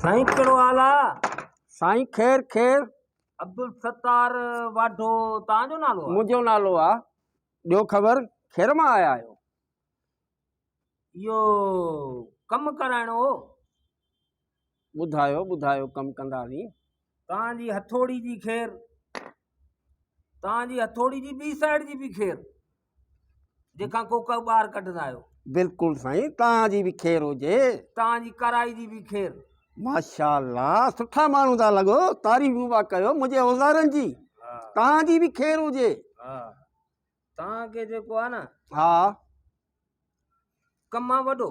سائين ڪهڙو حال آ سائين خير خير عبدالستار واڍو تنهنجو نالو آ منهنجو نالو آ ڏيو خبر خير مان آيا آهيو اهو ڪم ڪرائڻو هو ٻڌايو ٻڌايو ڪم ڪنداسين. تان جي هٿوڙي جي خير. تان جي هٿوڙي جي ٻي سائيڊ جي به خير جيڪا ڪوڪا ٻاهر ڪڍندا آهيو. بلڪل سائين تان جي به خير هجي. تان جي ڪارائي جي به خير. ماشاءالله سٺا ماڻهو ٿا لڳو تعريفون پيا ڪيو منهنجي اوزارن جي تان جي به خير هجي. توهان کي جيڪو آهي نه ها ڪم آهي وڏو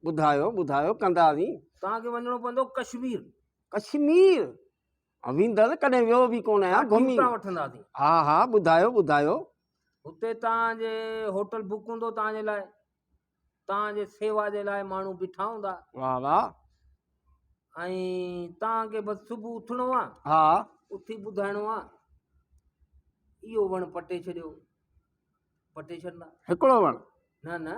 ٻڌايو ٻڌايو ڪنداسين توهان کي وڃڻو پوندو ڪشمير ڪشمير ويندس ڪڏهن ويو به ڪون آهيان گهمي ٽيوٽا وٺنداسين ها ها ٻڌايو ٻڌايو اتي توهان جي هوٽل بڪ هوندو توهان جي لاء توهان جي سيوا جي لاء ماڻهو بيٺا هوندا واه واه ۽ توهان کي بس صبح اٿڻو آ ها اٿي ٻڌائڻو آ اهو وڻ پٽي ڇڏيو پٽي ڇڏندا هڪڙو وڻ نه نه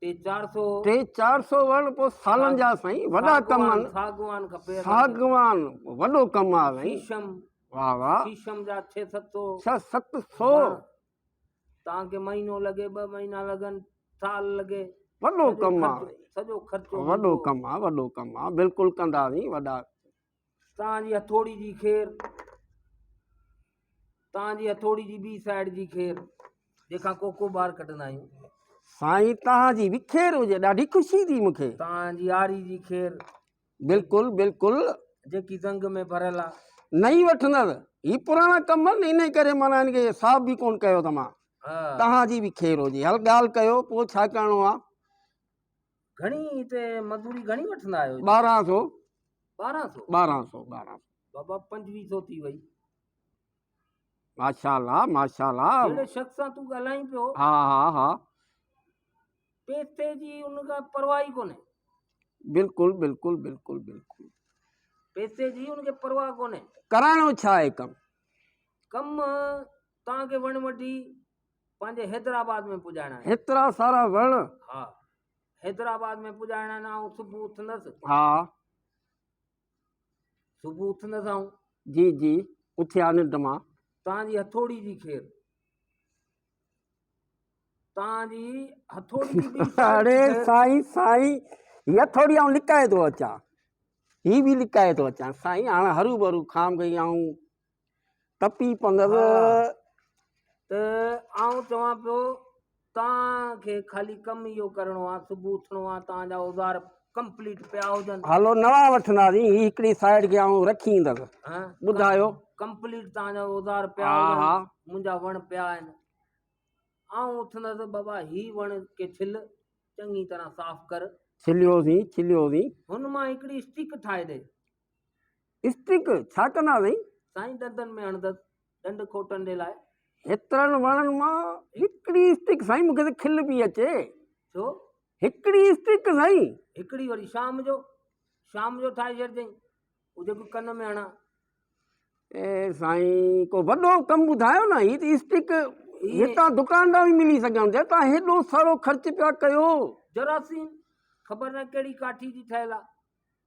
ٽي چار سو ٽي چار سو وڻ پوء سالن جا سائين وڏا ڪم آهن ساگوان کپي ساگوان وڏو ڪم آهي سائين شيشم واه واه شيشم جا 6 700 6 700 توهان کي مهينو لڳي ٻه مهينا لڳن سال لڳي وڏو ڪم آ سڄو خرچو وڏو ڪم آ وڏو ڪم آ بلڪل ڪنداسين وڏا توهان جي هٿوڙي جي خير توهان جي هٿوڙي جي ٻي سائيڊ جي خير جيڪا ڪوڪو ٻار ڪڍندا آهيون سائين توهان جي وکير هجي ڏاڍي خوشي ٿي مونکي توهان جي آري جي خير بلڪل بلڪل. جيڪي زنگ ۾ ڀريل آ. نئين وٺندس هي پراڻا ڪم آهن انهي ڪري معنيٰ هن کي صاف به ڪون ڪيو اٿم ها توهان جي به خير هجي هل ڳالهه ڪيو پوء ڇا ڪرڻو آ. گهڻي هتي مزوري گهڻي وٺندا آهيو. ٻارهن سو ٻارهن سو ٻارهن سو ٻارهن سو بابا پنجويهه سو ٿي وئي. ماشاء الله ماشاء الله جهڙي شخص سان تون ڳالهائين پيو ها ها ها پيسي جي ان کي پرواهه ئي ڪونهي بلڪل بلڪل بلڪل بلڪل پيسي جي ان کي پرواهه ڪونهي ڪرائڻو ڇا آهي ڪم ڪم تان کي وڻ وڍي پنهنجي حيدرآباد ۾ پڄائڻا آهن هيترا سارا وڻ ها حيدرآباد ۾ پڄائڻا آهن آئون صبح اٿندس ها صبح اٿندا سائون جي جي اٿيا ننڊ مان تانجي هٿوڙي جي خير تانجي هٿوڙي جي اڙي سائين سائين هي هٿوڙي آئون لڪائي ٿو اچان هي به لڪائي ٿو اچان سائين هاڻ هرو ڀرو کام گئي آئون ٽپي پندس ته آئون چوان پيو توهان کي خالي ڪم اهو ڪرڻو آ صبح اٿڻو آ توهان جا اوزار ڪمپليٽ پيا هجن هلو نوان وٺنداسين هي هڪڙي سائيڊ کي آئون رکي ايندس ٻڌايو ڪمپليٽ توهان جا اوزار پيا هجن منهنجا وڻ پيا آهن آئون اٿندس بابا هي وڻ کي ڇل چڱي طرح صاف ڪر ڇليوسين ڇليوسين هن مان هڪڙي اسٽڪ ٺاهي ڏي اسٽڪ ڇا ڪندا اٿئي؟ سائين دندن ۾ هڻندس ڏنڊ کوٽڻ جي لاء. هيترن وڻن مان هڪڙي اسٽڪ سائين مونکي ته کل پي اچي. ڇو؟ هڪڙي اسٽڪ سائين. هڪڙي وري شام جو شام جو ٺاهي ڇڏجئين هو جيڪو ڪن ۾ هڻان. اي سائين ڪو وڏو ڪم ٻڌايو نه هي ته اسٽڪ هتان دڪان تان به ملي سگهيا هوندي تان هيڏو سارو خرچ پيا ڪيو. جراثيم خبر نه ڪهڙي ڪاٺي جي ٺهيل آ.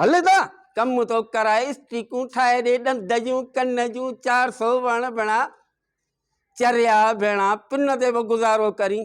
هل ته ڪم ٿو ڪران اسٽيڪون ٺاهي ڏي ڏند جون ڪن جون چار سو وڻ ڀيڻا چريا ڀيڻا پن تي به گذارو ڪرين